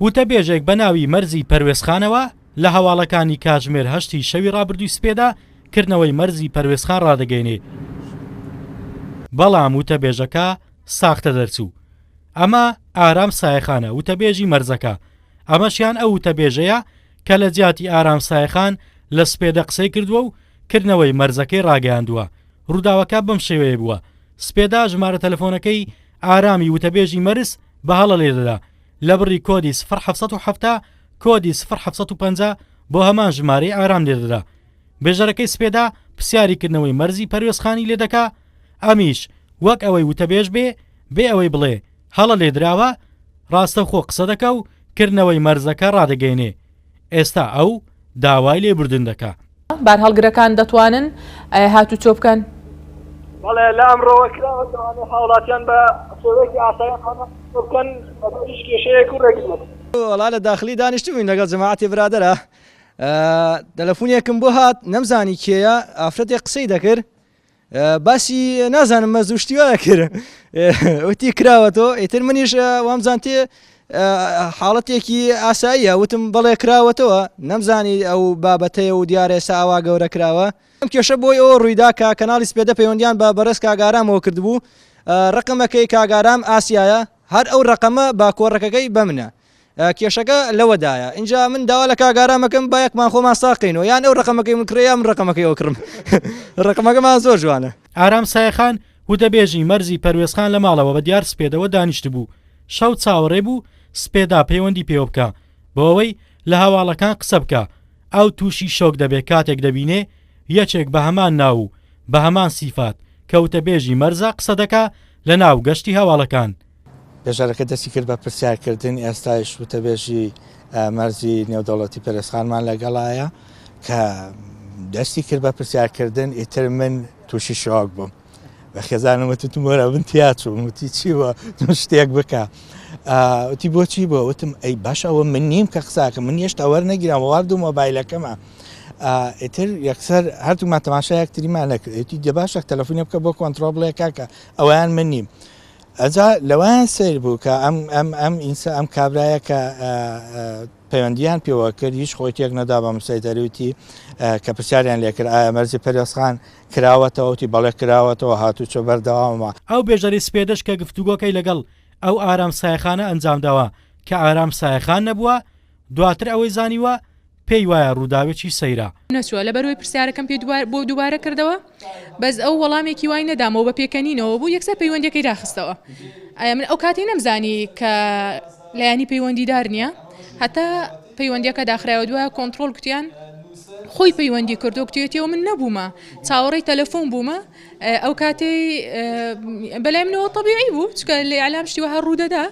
وتەبێژێک بە ناوی مەرزی پەروێزخانەوە لە هەواڵەکانی کاتژمێر هەشتی شەوی ڕابردووی سپێدا کردنەوەی مەرزی پەروێزخان ڕادەگەینێ، بەڵام وتەبێژەکە ساختە دەرچوو. ئەمە ئارام سایەخانە، وتەبێژی مەرزەکە. ئەمەشیان ئەو وتەبێژەیە کە لە جیاتی ئارام سایەخان لە سپێدە قسەی کردووە و کردنەوەی مەرزەکەی ڕاگەیاندووە. ڕووداوەکە بەم شێوەیە بووە. سپێدا ژمارە تەلەفۆنەکەی ئارامی وتەبێژی مەرز بە هەڵە لێ دەدا، لە بڕی کۆدی سفر حەڤ سەد و حەفتا کۆدی سفر حەڤ سەد و پەنجا بۆ هەمان ژمارەی ئارام لێ دەدا. بێژەرەکەی سپێدا پرسیاری کردنەوەی مەرزی پەروێزخانی لێ دەکا، ئەمیش وەک ئەوەی وتەبێژ بێ، بێ ئەوەی بڵێ هەڵە لێ دراوە، ڕاستەوخۆ قسە دەکا و کردنەوەی مەرزەکە ڕادەگەینێ. ئێستا ئەو داوای لێبوردن دەکا. بارهەڵگرەکان دەتوانن هاتوچۆ بکەن؟ بەڵێ، لە ئەمڕۆوە کراوە دەوانێت هاوڵاتیان بە شێوەیەکی ئاسایی هاتوچۆ بکەن بەبێ هیچ کێشەیەک و رێگریەک. وەڵا لە داخلی دانیشتبووین لەگەڵ جەماعەتی برادەرا تەلەفونێکم بۆ هات نەمزانی کێیە ئافرەتێک قسەی دەکرد باسی نازانم مەز و شتیوا کرد وتی کراوە تۆ ئیتر منیش وامزانتێ حاڵەتێکی ئاساییە وتم بەڵێ کراوەتەوە نەمزانی ئەو بابەتەیە و دیارە ئێستا ئاوا گەورە کراوە ئەم کێشە بۆی ئەوە ڕوویدا کە کەناڵی سپێدە پەیوەندیان بە بەڕێز کاگارامەوە کردبوو ڕقمەکەی کاگارام ئاسیایە هەر ئەو ڕقەمە با کۆڕەکەەکەی بەمنە کێشەکە لەوەدایە ئینجا من داوا لە کاک ئارام ئەکەم با یەکمان خۆمان ساغ کەینەوە یان ئەو ڕەقەمەکەی من کڕێ یا من ڕەقەمەکەی ئەو کڕم ڕەقەمەکەمان زۆر جوانە ئارام سایەخان وتەبێژی مەرزی پەروێزخان لە ماڵەوە بە دیار سپێدەوە دانیشتبوو شەو چاوەڕێ بوو سپێدا پەیوەندی پێوە بکا بۆ ئەوەی لە هەواڵەکان قسە بکا ئەو تووشی شۆک دەبێ کاتێک دەبینێ یەکێک بە هەمان ناو و بە هەمان سیفات کە وتەبێژی مەرزە قسە دەکا لەناو گەشتی هەواڵەکان بێژەرەکە دەستی کرد بە پرسیارکردن، ئێستایش وتەبێژی مەرزی نێودەوڵەتی پەرێزخانمان لەگەڵایە کە دەستی کرد بە پرسیارکردن ئیتر من تووشی شۆک بووم بە خێزانم وتم وەرە من تیا چووم وتی چی وە شتێک بکە وتی بۆچی بۆ وتم ئەی باش ئەوە من نیم کە قساکە من هێشتا وەرنەگیران وارد و مۆبایلەکەمە ئیتر یەکسەر هەردوومان تەماشا یەکتریمان نەکرێتی دە باشە تەلەفۆنی بکە بۆ کۆنتترۆل بڵێ کاکە ئەویان من نیم ئەجا لەوەیان سەیر بوو کە ئەم ئەم ئەم ئینسا ئەم کابرایە کە پەیوەندیان پێوە کرد هیچ خۆی تێک نەدا بە مسای دەروتی کە پرسیاریان لێکرد ئایا مەرزی پەرێزخان کراوەتەوەتی بەڵێ کراوەتەوە هاتوو چۆ بەردەوامە. ئەو بێژەری سپێدەش کە گفتوگۆکەی لەگەڵ ئەو ئارام سایەخانە ئەنجام داوە کە ئارام سایەخان نەبووە دواتر ئەوەی زانیوە پێی وایە ڕووداوێکی سەیرە. نەچووە، لەبەرئەوەی پرسیارەکەم پێ بۆ دووبارە کردەوە، بەس ئەو وەڵامێکی وای نەدامەوە، بە پێکەنینەوە بوو، یەکسەر پەیوەندییەکەی داخستەوە. ئایا من ئەو کاتەی نەمزانی کە لایەنی پەیوەندیدار نییە، هەتا پەیوەندییەکە داخرایەوە، دوایە کۆنتڕۆڵ گوتیان خۆی پەیوەندی کردووە، گوتوویەتیەوە من نەبوومە، چاوەڕێی تەلەفۆن بوومە، ئەو کاتەی بەلای منەوە تەبیعی بوو، چونکە لە ئیعلام شتی وەها ڕوودەدا،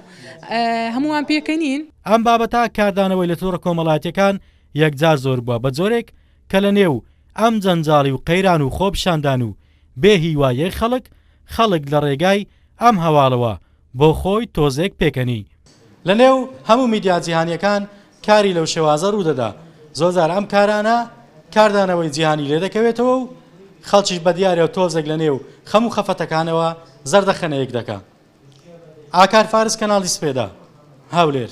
هەمووان پێکەنین. ئەم بابەتە کاردانەوەی لە تۆڕە کۆمەڵایەتیەکان یەکجار زۆر بووە بە جۆرێک کە لە نێو ئەم جەنجاڵی و قەیران و خۆپیشاندان و بێ هیواییەی خەڵک، خەڵک لە ڕێگای ئەم هەواڵەوە بۆ خۆی تۆزێک پێکەنی. لە نێو هەموو میدیا جیهانیەکان کاری لەو شێوازە ڕوو دەدا، زۆر جار ئەم کارانە کاردانەوەی جیهانی لێ دەکەوێتەوە و خەڵکیش بە دیارە تۆزێک لە نێو خەم و خەفەتەکانەوە زەردەخەنەیەک دەکا. ئاکار فارس کەناڵی سپێدە، هەولێر.